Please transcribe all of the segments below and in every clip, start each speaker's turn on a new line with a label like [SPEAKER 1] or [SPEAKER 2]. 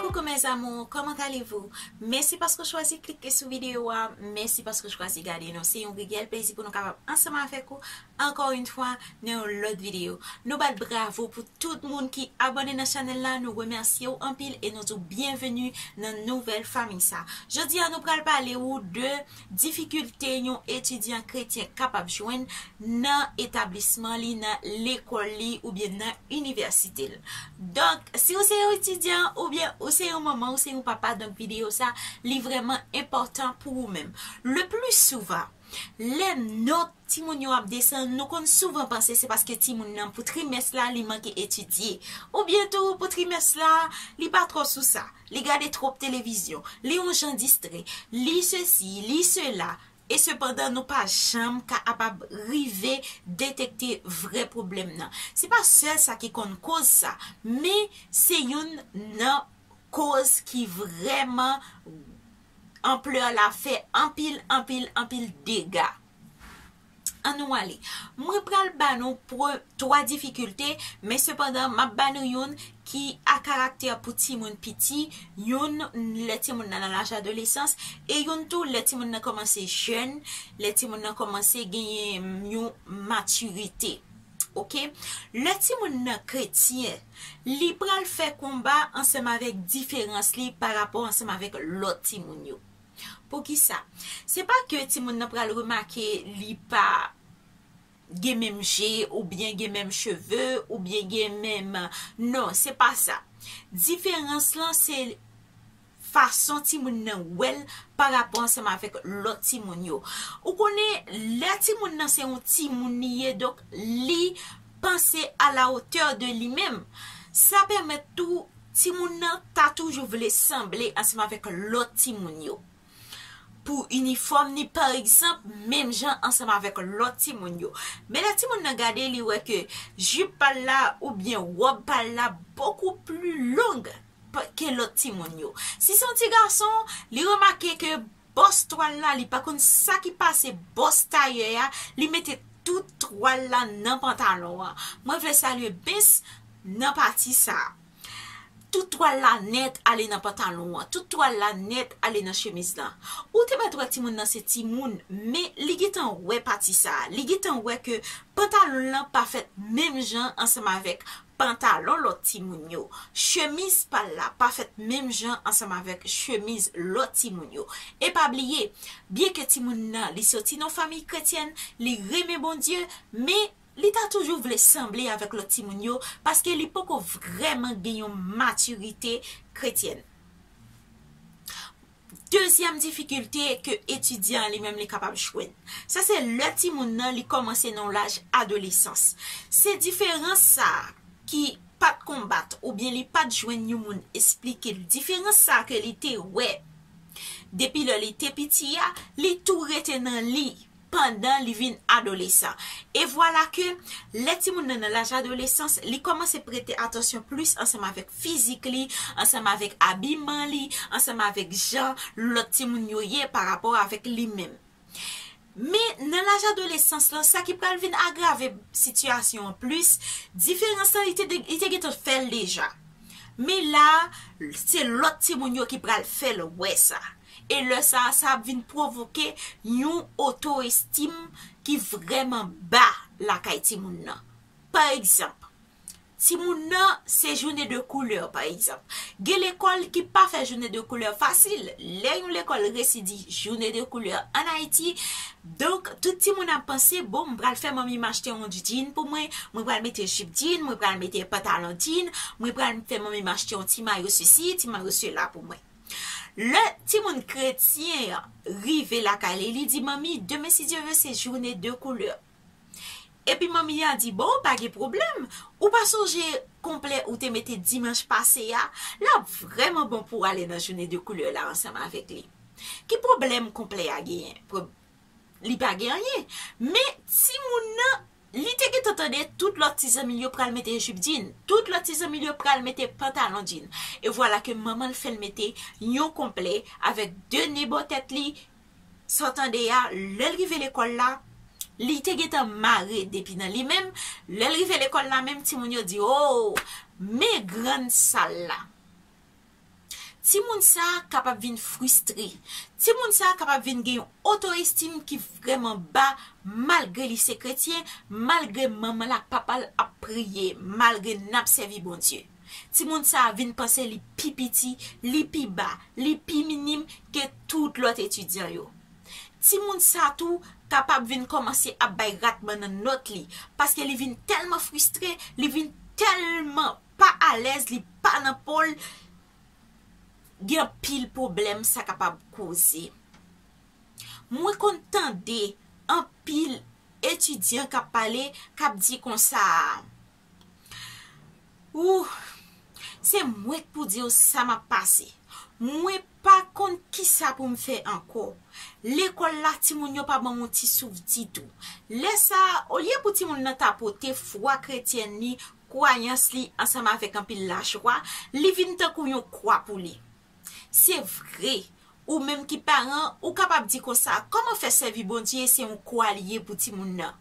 [SPEAKER 1] Coucou mes amours comment allez vous mèsi paske ou chwazi klike sou video a mèsi paske ou chwazi gade nou se yon reyèl plezi pou nou kapab ansanm avèk ou ankò yn fwa nan yon lòt video nou bat bravo pou tout moun ki abòne nan chanèl la nou remèsye ou anpil e nou di w byenveni nan nouvèl fanmi sa jodi a nou pral pale ou de Difikilte yon etidyan kretyen kapab jwenn nan etablisman li, nan lekòl li oubyen nan inivèsite l. Donk, si ou se yon etidyan oubyen ou se yon manman, ou se yon papa, donk videyo sa li vrèman enpòtan pou ou menm. Leplisouvan, lè nòt timoun yo ap desann, nou konn souvan panse se paske timoun nan pou trimès la li manke etidye. Oubyen tou pou trimès la, li pa twò sou sa, li gade twòp televizyon, li on jan distrè, li sesi, li sela. E sepandan nou pa janm ka apab rive detekte vrè pwoblèm nan. Se pa sèl sa ki konn koz sa, men se youn nan koz ki vrèman. Ampleur la fè anpil anpil anpil dega. An nou ale. Mwen pral ba nou pre 3 difikilte, men sepandan map ba nou youn ki a karaktè pou timoun piti, youn lè timoun nan nan laj adolesans, e youn tou lè timoun nan kòmanse jèn, lè timoun nan kòmanse genyen yon matirite. Ok lè timoun nan kretyen li pral fè konba ansanm avèk diferans li pa rapò ansanm avèk lòt timoun yo poukisa se pa ke timoun nan pral remake li pa gen menm je ou byen gen menm cheve ou byen gen menm non se pa sa diferans lan se fason timoun nan wè l pa rapò ansanm avèk lòt timoun yo. Ou konnen, lè timoun nan se yon timoun li ye, donk li panse a la otè de li menm. Sa pèmèt tou timoun nan ta toujou vle sanble ansanm avèk lòt timoun yo. Pou inifòm ni pa egzanp, menm jan ansanm avèk lòt timoun yo. Men lè timoun nan gade li wè ke jip pa l la oubyen wòb pa l la bokou pli long. ke lòt timoun yo. Si se yon ti gason, li remake ke bòs twal la, li pa konn sa ki pase bòs tayè a, li mete tout twal la nan pantalon an. Mwen vle salye Bens nan pati sa a. Tout twal la nèt ale nan pantalon an. Tout twal la nèt ale nan chemiz lan. Ou te mèt wè timoun nan se timoun, men li gentan wè pati sa a. Li gentan wè ke pantalon lan pa fèt menm jan ansanm avèk Pantalon lòt timoun yo. Chemiz pa l la pa fèt menm jan ansanm avèk chemiz lòt timoun yo. E pa bliye, byenke timoun nan li soti nan yon famiy kretyèn, li renmen Bondye, men, li ta toujou vle sanble avèk lòt timoun yo paske li poko vrèman gen yon matirite kretyèn. Dezyèm difikilte ke etidyan an li menm li kapab jwenn. Sa se lè timoun nan li kòmanse nan yon laj adolesans. Se diferans sa a ki pa t konbat oubyen li pa t jwenn yon moun esplike l. Diferans sa a ke li te wè depi lè li te piti a, li tou rete nan li. pandan li vin adolesan. E vwala ke, lè timoun nan nan laj adolesans, li kòmanse prete atansyon plis ansanm avèk fizik li, ansanm avèk abiman li, ansanm avèk jan lòt timoun yo ye pa rapò avèk li menm. Men, nan laj adolesans lan, sa ki pral vin agrave sitiyasyon an plis, diferans lan, li te gen tan fè l deja. Men la a, se lòt timoun yo ki pral fè l wè sa. E lè sa a, sa ap vin pwovoke yon oto-estim ki vrèman ba lakay timoun nan. Pa egzanp, timoun nan se joune de koulè, pa egzanp. Gen lekòl ki pa fè joune de koulè fasil. Lè yon lekòl resi di joune de koulè an Ayiti, donk tout timoun ap panse, bon, m pral fè manmi m achte yon djin pou mwen, mwen pral mete jip djin, mwen pral mete pantalon djin, mwen pral fè manmi m achte yon ti mayo sesi, ti mayo sela pou mwen. Lè timoun kretyen an rive lakay li, li di, Manmi, demen si Dye vle se joune de koulè. Epi manmi a di, Bon, pa gen pwoblèm. Ou pa sonje konplè ou te mete dimanch pase a? L ap vrèman bon pou w ale nan joune de koulè la ansanm avèk li. Ki pwoblèm konplè a genyen? Li pa gen anyen. Men, timoun nan, li te gentan tande tout lòt ti zanmi l yo pral mete jip djin. Tout lòt ti zanmi l yo pral mete pantalon djin. E vwala ke manman l fè l mete yon konplè avèk de ne bò tèt li. Sa w tande a, lè l rive lekòl la, li te gentan mare depi nan li menm. Lè l rive lekòl la menm, timoun yo di, O! Men grann sal la! Timoun sa a kapab vin fristre. Timoun sa a kapab vin gen yon oto-estim ki vrèman ba malgre li se kretyen, malgre manman l ak papa l ap priye, malgre n ap sèvi Bondye. Timoun sa a vin panse li pi piti, li pi ba, li pi minim ke tout lòt etidyan yo. Timoun sa a tou kapab vin kòmanse ap bay ratman nan nòt li paske li vin tèlman fristre, li vin tèlman. pa alèz li pa nan pol gen anpil problèm sa kapab koze mwen konn tande anpil etidyan kap pale kap di konsa ooh se mwen k pou diw sa map pase mwen pa konn kisa poum fè ankò lekòl la timoun yo pa banm yon ti souf ditou lè sa olye pou timoun nan ta pote fwa kretyèn li Kwayans li ansanm avèk anpil lajwa, li vin tankou yon kwa pou li. Se vre, ou menm ki paran, ou kapab di konsa, kòman fè sèvi Bondye se yon kwa li ye pou timoun nan?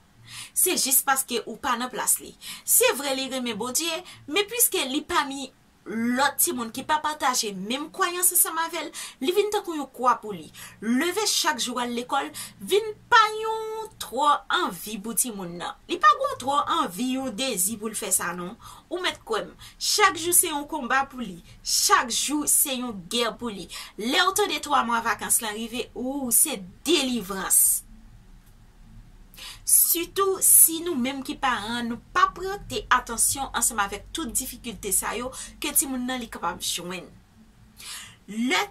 [SPEAKER 1] Se jis paske ou pa nan plas li. Se vre li renmen Bondye, men piske li pa mi lòt timoun ki pa pataje menm kwayans ansanm avè l, li vin tankou yon kwa pou li. Leve chak jou al lekòl vin pa yon twò anvi pou timoun nan. Li pa gon twò anvi, yon dezi pou l fè sa non. Ou mèt kwè m, chak jou se yon konba pou li, chak jou se yon gè pou li. Lè w tande twa mwa vakans lan rive, wou, se delivrans! Sitou si nou menm ki paran an nou pa prete atansyon ansanm avèk tout difikilte sa yo ke timoun nan li kapab jwenn. Lè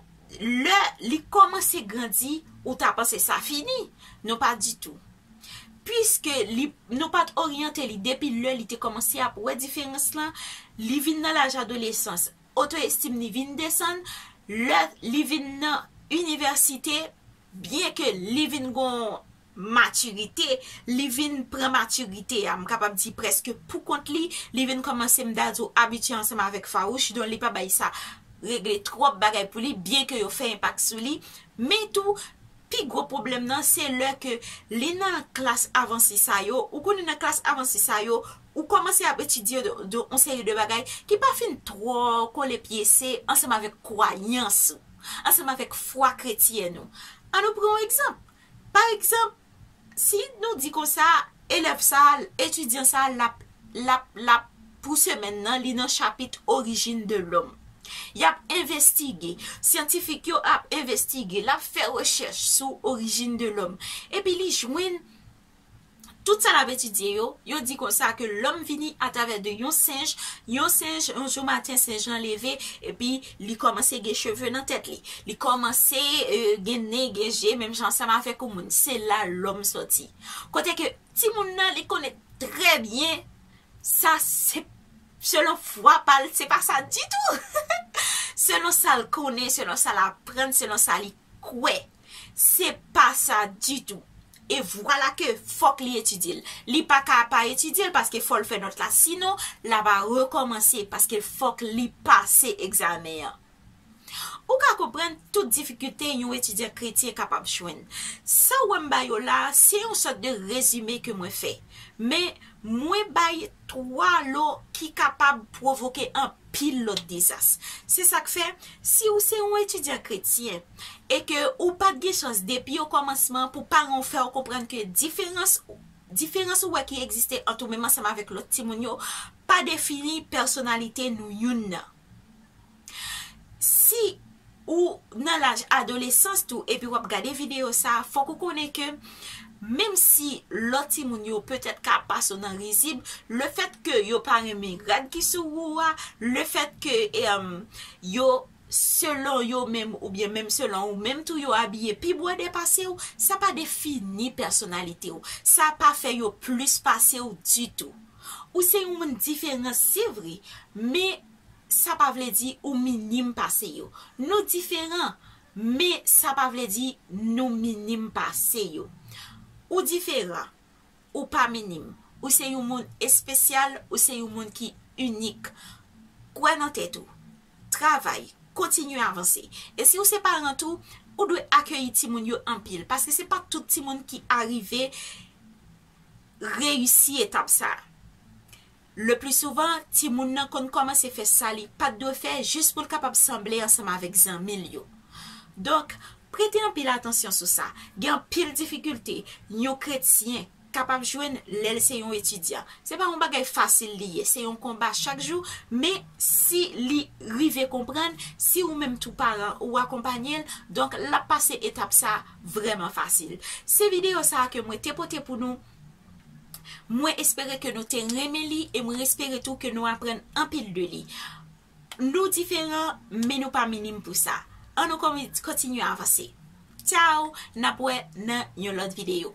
[SPEAKER 1] lè li kòmanse grandi ou ta panse sa fini, non pa ditou. Piske li nou pa t oryante li depi lè li te kòmanse ap wè diferans lan, li vin nan laj adolesans, oto estim li vin desann, lè li vin nan inivèsite, Byen ke li vin gon matirite, li vin pran matirite a, m kapab di prèske pou kont li, li vin kòmanse m ta di w abitye ansanm avèk Farouch, don li pa bay sa regle twòp bagay pou li, byen ke yo fè enpak sou li, men tou pi gwo pwoblèm nan se lè ke li nan klas avanse sa yo, ou konnen nan klas avanse sa yo, ou kòmanse ap etidye yon seri de bagay ki pa fin twò kole pyese ansanm avèk kwayans ou. ansanm avèk fwa kretyen nou. An nou pran yon egzanp. Pa egzanp, si nou di konsa, elèv sa a, etidyan sa a, l ap, l ap, pou semèn nan, li nan chapit Origine de l'homme. Y ap envestige. Syantifik yo ap envestige. L ap fè rechèch sou Origine de l'homme. Epi li jwenn. Tout sa l ap etidye yo, yo di konsa ke lòm vini atravè de yon senj, yon senj, yon jou maten senj lan leve, epi li kòmanse gen cheve nan tèt li, li kòmanse gen nen, gen je, menm jan ansanm avèk yon moun, se la lòm sòti. Kote ke timoun nan li konnen trè byen sa se selon fwa pa l, se pa sa ditou! Selon sa l konnen, selon sa l aprann, selon sa li kwè. Se pa sa ditou. E vwala ke fòk li etidye l. Li pa ka pa etidye l paske fò l fè nòt la sinon l a va rekòmanse paske fòk li pase egzamen an. Ou ka konprann tout difikilte yon etidyan kretyen kapab jwenn. Sa w wè m ba yo la a, se yon sòt de rezime ke mwen fè. Men, mwen bay 3 lo ki kapab pwovoke anpil lòt dezas. Se sa k fè, si ou se yon etidyan kretyen e ke ou pa t gen chans depi okòmansman pou paran ou fè ou konprann ke diferans diferans ou wè ki egziste ant ou menm ansanm avèk lòt timoun yo pa defini pèsonalite nou youn nan. Si ou nan laj adolesans tou epi wap gade video sa, fòk ou konnen ke menm si lòt timoun yo petèt ka pase ou nan rizib, le fèt ke yo pa renmen rad ki sou ou a, le fèt ke yo selon yo menm oubyen menm selon ou menm tou yo abiye pi bwode pase ou, sa pa defini pèsonalite ou. Sa pa fè yo plis pase ou ditou. Ou se yon moun diferan se vre, men sa pa vle di ou minim pase yo. Nou diferan, men sa pa vle di nou minim pase yo. Ou diferan, ou pa minim. Ou se yon moun espesyal, ou se yon moun ki inik. Kwè nan tèt ou. Travay, kontinye avanse. E si ou se paran tou, ou dwe akeyi timoun yo anpil. Paske se pa tout timoun ki arive reyisi etap sa a. Leplisouvan, timoun nan konn kòmanse fè sa li pa t dwe fè jis pou l kapab sanble ansanm avèk zanmi l yo. Donk, prete anpil atansyon sou sa. Gen anpil difikilte yon kretyen kapab jwenn lè l se yon etidyan. Se pa yon bagay fasil li ye, se yon konba chak jou, men, si li rive konprann, si ou menm tou paran ou akonpanye l, donk l ap pase etap sa a vrèman fasil. Se videyo sa a ke mwen te pote pou nou. Mwen espere ke nou te renmen li e mwen espere tou ke nou aprann anpil de li. Nou diferan, men nou pa minim pou sa. An nou kontinye avanse. Ciao, n ap wè nan yon lòt videyo.